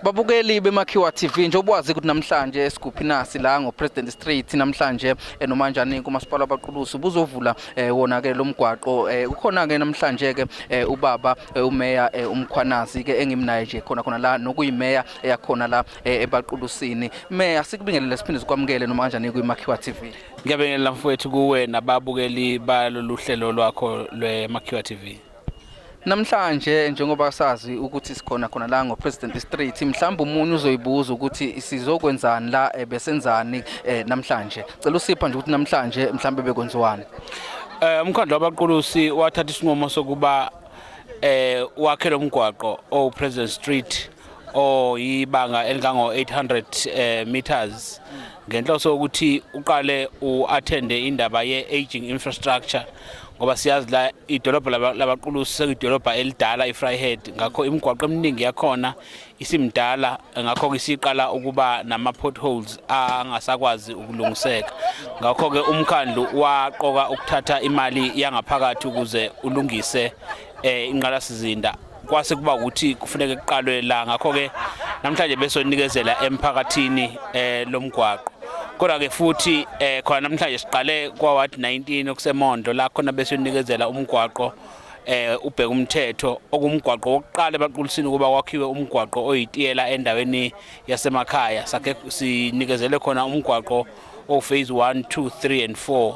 Babukeli beMakhiwa TV njengoba wazi ukuthi namhlanje esiguphi nasi la ngoPresident Street namhlanje eh, nomanjani kumasipala wabaqulusi buzovula eh, wona ke lomgwaqo eh, ukhona ke namhlanje ke ubaba umeya uMkhwanazi ke engimnaye nje khona khona la nokuyimeya eyakhona la ebaqulusini meya sikubingelele siphinde sikwamukele nomanjani kwiMakhiwa TV Ngiyabingelela mfowethu kuwe nababukeli balolu hlelo lwakho lweMakhiwa TV Namhlanje njengoba sazi ukuthi sikhona khona la ngoPresident Street mhlawumbe umunye uzoyibuza ukuthi sizokwenzani la eh, besenzani eh, namhlanje cela usipha nje ukuthi namhlanje mhlawumbe bekwenziwani Eh umkhandlu wabaqulusi wathatha isinqumo sokuba eh wakhe lomgwaqo oPresident Street oyibanga oh, elingango-800 eh, meters ngenhloso yokuthi uqale u-athende indaba ye-aging infrastructure ngoba siyazi la idolobha labaqulusi sekuyidolobha elidala i-fryhead ngakho imigwaqo eminingi yakhona isimdala ngakho-ke isiqala ukuba nama-potholes angasakwazi ukulungiseka ngakho-ke umkhandlu waqoka ukuthatha imali yangaphakathi ukuze ulungise um eh, inqalasizinda kwase kuba ukuthi kufuneke kuqalwe la ngakho-ke namhlanje besonikezela emphakathini eh lomgwaqo kodwa ke futhi eh khona namhlanje siqale kwa ward 19 okuseMondo la khona besonikezela umgwaqo eh ubheka umthetho okumgwaqo wokuqala ebaqulisini kuba kwakhiwe umgwaqo oyitiyela endaweni yasemakhaya sakhe sinikezele khona umgwaqo o phase 1 2 3 and 4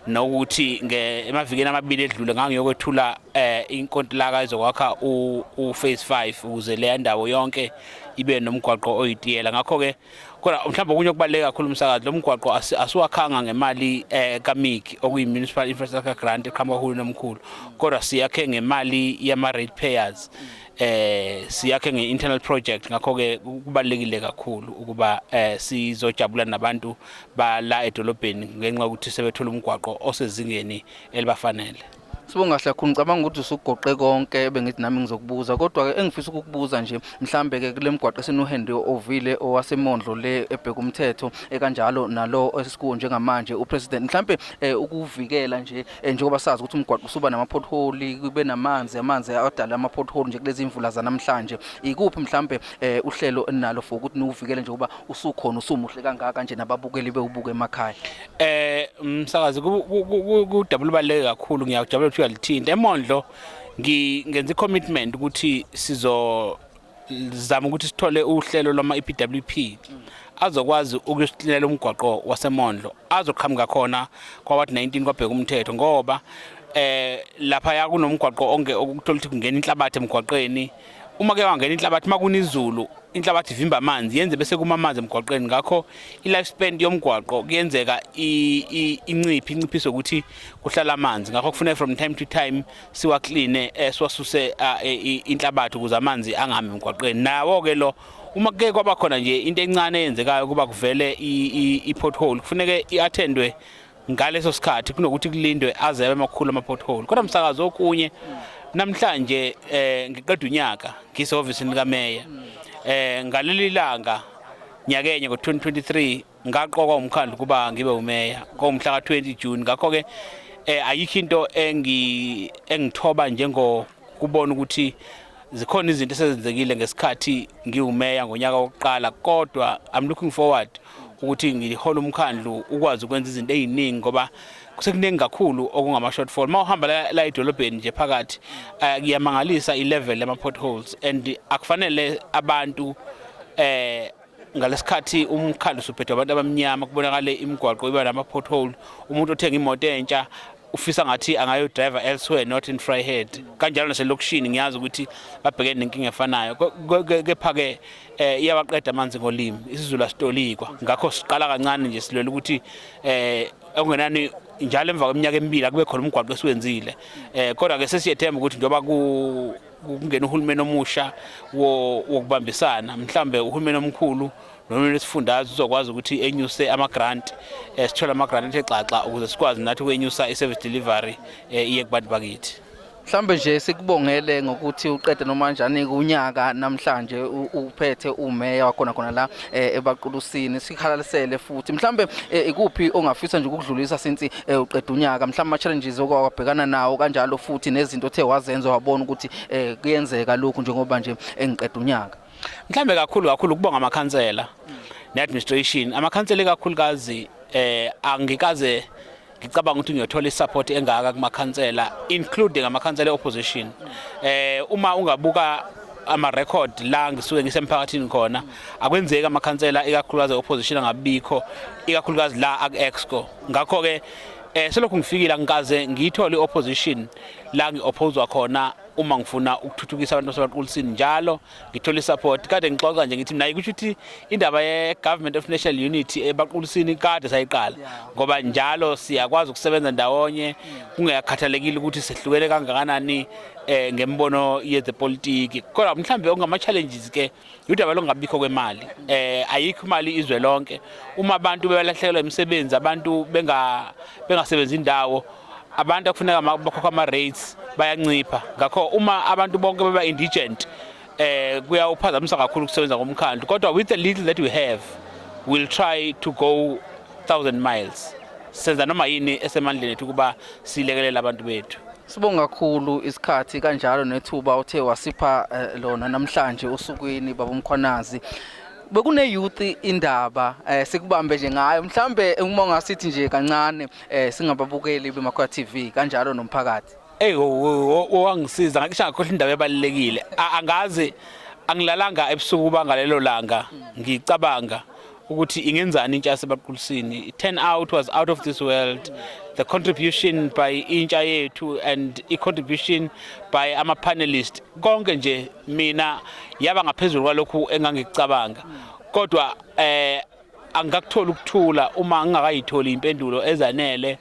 nokuthi emavikeni amabili edlule ngangiyokwethula eh inkontilaka ezokwakha u phase 5 ukuze le ndawo yonke ibe nomgwaqo oyitiyela ngakho ke kodwa mhlawumbe okunye okubaluleke kakhulu umsakazi lo mgwaqo asiwakhanga ngemali eh kamiki okuyi-municipal infrastructure grant eqhamuka uhulumeni omkhulu kodwa siyakhe ngemali yama-rate payers eh siyakhe nge-internal project ngakho-ke kubalulekile kakhulu ukuba eh sizojabula nabantu bala edolobheni ngenxa yokuthi sebethola umgwaqo osezingeni elibafanele Sibonga kahle kakhulu ngicabanga ukuthi usugoqe konke bengithi nami ngizokubuza kodwa ke engifisa ukukubuza nje mhlambe ke kulemgwaqo esinohende ovile owasemondlo le ebheka umthetho ekanjalo nalo esikuwo njengamanje upresident mhlambe eh, ukuvikela nje Eh, njengoba sazi ukuthi umgwaqo usuba nama-pothole kube namanzi amanzi adala ama-pothole nje kulezi imvula zanamhlanje ikuphi mhlampe eh, uhlelo enalo for ukuthi niwuvikele nje uba usukhona usumuhle kangaka nje nababukeli bewubuke emakhaya eh msakazi kudabula ubaluleke kakhulu ngiyakujabula ukuthi uyalithinta emondlo ngenza i-commitment ukuthi sizo zama ukuthi sithole uhlelo lwama EPWP azokwazi ukusihlela umgwaqo wasemondlo azoqhamuka khona kwaward 19 kwabheka umthetho ngoba eh lapha ya kunomgwaqo onke okuthola ukuthi kungena inhlabathi emgwaqeni uma ke wangena inhlabathi makuna izulu inhlabathi ivimba amanzi yenze bese kuma amanzi emgwaqeni ngakho i-life span yomgwaqo kuyenzeka inciphi inciphise ukuthi kuhlala amanzi ngakho kufuneka from time to time siwakline eh, siwasuse ah, eh, inhlabathi ukuze amanzi angami emgwaqeni nawo ke lo uma kuke kwaba khona nje into encane eyenzekayo kuba kuvele i-pothole kufuneke i-attendwe ngaleso sikhathi kunokuthi kulindwe azebe amakhulu ama-pothole kodwa msakazi okunye namhlanje um ngiqeda unyaka ngisehhovisini likameya um ngaleli langa nyakenye ngo-2023 ngaqokwa umkhandlu kuba ngibe umeya komhla ka-20 June ngakho-ke eh ayikho into engi engithoba njengo kubona ukuthi zikhona izinto esezenzekile ngesikhathi ngiwumeya ngonyaka wokuqala kodwa i'm looking forward ukuthi ngihola umkhandlu ukwazi ukwenza izinto eziningi ngoba kusekuningi kakhulu okungama shortfall uma uhamba la, la edolobheni nje phakathi eh, kuyamangalisa uh, i-level yama potholes and akufanele abantu eh ngalesikhathi umkhandlu usuphethwe abantu abamnyama kubonakale imigwaqo iba nama-pothole umuntu othenga imoto entsha ufisa ngathi angayodriver elsewhere not in fryhead kanjalo naselokishini ngiyazi ukuthi babhekene nenkinga efanayo kepha-ke um iyawaqeda amanzi ngolimi isizulu asitolikwa ngakho siqala kancane nje silwela ukuthi um okungenani njalo emva kweminyaka emibili akube khona umgwaqo esiwenzile um kodwa-ke sesiyethemba ukuthi njengoba kungena uhulumeni omusha wokubambisana mhlambe uhulumeni omkhulu nohulumeni wesifundazwe uzokwazi ukuthi enyuse ama-grant um sithole ama-grant athe xaxa ukuze sikwazi nathi ukwenyusa i-service delivery um iye kubantu bakithi mhlambe nje sikubongele ngokuthi uqede noma kanjani kunyaka namhlanje uphethe umeya wakhona khona la eh, ebaqulusini sikhalalisele futhi mhlambe eh, ikuphi ongafisa nje ukudlulisa since eh, uqeda unyaka mhlawumbe ama-challenges okwabhekana nawo kanjalo futhi nezinto othe wazenza wabona ukuthi eh, kuyenzeka lokhu njengoba nje engiqeda unyaka mhlawumbe kakhulu kakhulu ukubonga amakhansela ne-administration amakhansela ikakhulukazi eh angikaze ngicabanga ukuthi ngiyothola isupport engaka kumakhansela including amakhansela opposition eh uma ungabuka ama record la ngisuke ngisemphakathini khona akwenzeki amakhansela ikakhulukazi opposition angabikho ikakhulukazi la aku exco ngakho ke eh selokhu ngifikile angikaze ngiyithole opposition la ngiophozwa khona uma ngifuna ukuthuthukisa abantu basebaqulisini njalo ngithola isupport kade ngixoxa nje ngithi mina ikusho ukuthi indaba ye government of national unity ebaqulisini kade sayiqala ngoba njalo siyakwazi ukusebenza ndawonye kungekhathalekile ukuthi sehlukene kangakanani eh ngembono yezepolitiki kodwa mhlambe okungama challenges ke udaba lokungabikho kwemali eh ayikho imali izwe lonke uma abantu bebalahlekelwa imisebenzi abantu benga bengasebenzi indawo abantu akufuneka bakhokha ama rates bayancipha ngakho uma abantu bonke beba indigent eh kuyawuphazamisa kakhulu ukusebenza komkhandlu kodwa with the little that we have we'll try to go 1000 miles senza noma yini esemandleni ethu kuba silekelela abantu bethu Sibonga kakhulu isikhathi kanjalo nethuba uthe wasipha eh, lona namhlanje usukwini baba Mkhwanazi bekune youth indaba eh, sikubambe nje ngayo mhlambe uma ungasithi nje kancane eh, singababukeli bemakhoya TV kanjalo nomphakathi hey wangisiza ngakisha ngakhohle indaba ebalekile angazi angilalanga ebusuku bangalelo langa ngicabanga ukuthi ingenzani intsha yasebaqulisini turn out was out of this world the contribution by intsha yethu and i-contribution by ama-panelist konke nje mina yaba ngaphezulu kwalokhu engangikucabanga kodwa eh angikakuthola ukuthula uma ngingakayitholi impendulo ezanele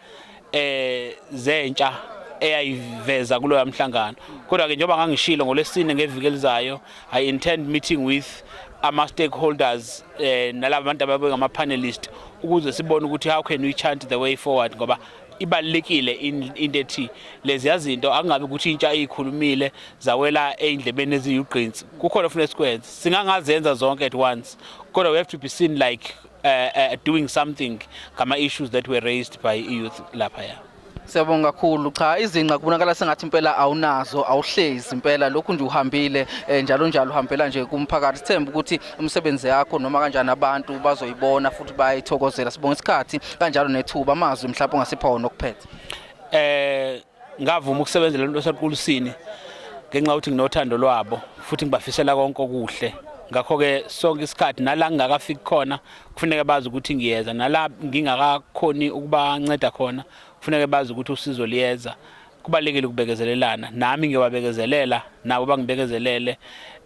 eh zentsha eyayiveza kuloya mhlangano kodwa ke njengoba ngangishilo ngolesine ngeviki elizayo i intend meeting with ama stakeholders eh nalabo bantu ababe ngama panelist ukuze sibone ukuthi how can we chant the way forward ngoba ibalekile into ethi lezi yazinto angabe ukuthi intsha eyikhulumile zawela eindlebeni eziyugqinsi kukhona ufuna sikwenze singangazenza zonke at once kodwa we have to be seen like uh, uh, doing something ngama issues that were raised by youth lapha ya Siyabonga kakhulu. Cha izinqa kubonakala sengathi impela awunazo, awuhlezi impela lokhu nje uhambile eh, njalo njalo uhambela nje kumphakathi. Sithemba ukuthi umsebenzi yakho noma kanjani abantu bazoyibona futhi bayithokozela. Sibonga isikhathi kanjalo nethuba amazwi mhlawumbe ongasipha wona okuphethe. Eh ngavuma ukusebenzela umuntu osequlusini ngenxa ukuthi nginothando lwabo futhi ngibafisela konke okuhle ngakho-ke sonke isikhathi nala ngingakafiki khona kufuneka bazi ukuthi ngiyeza nala ngingakakhoni ukubanceda khona kufuneka bazi ukuthi usizo liyeza kubalekile ukubekezelelana nami ngiyobabekezelela nabo bangibekezelele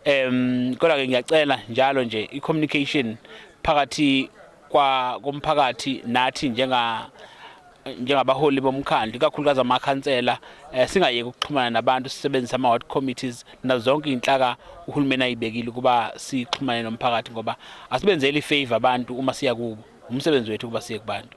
um kodwa-ke ngiyacela njalo nje i-communication phakathi komphakathi nathi njenga njengabaholi bomkhandlu ikakhulukazi amakhansela eh, singayeki ukuxhumana nabantu sisebenzise ama-ward committees nazo zonke iy'nhlaka uhulumeni ayibekile ukuba sixhumane nomphakathi ngoba asibenzeli ifavor abantu uma siya kubo umsebenzi wethu ukuba siye kubantu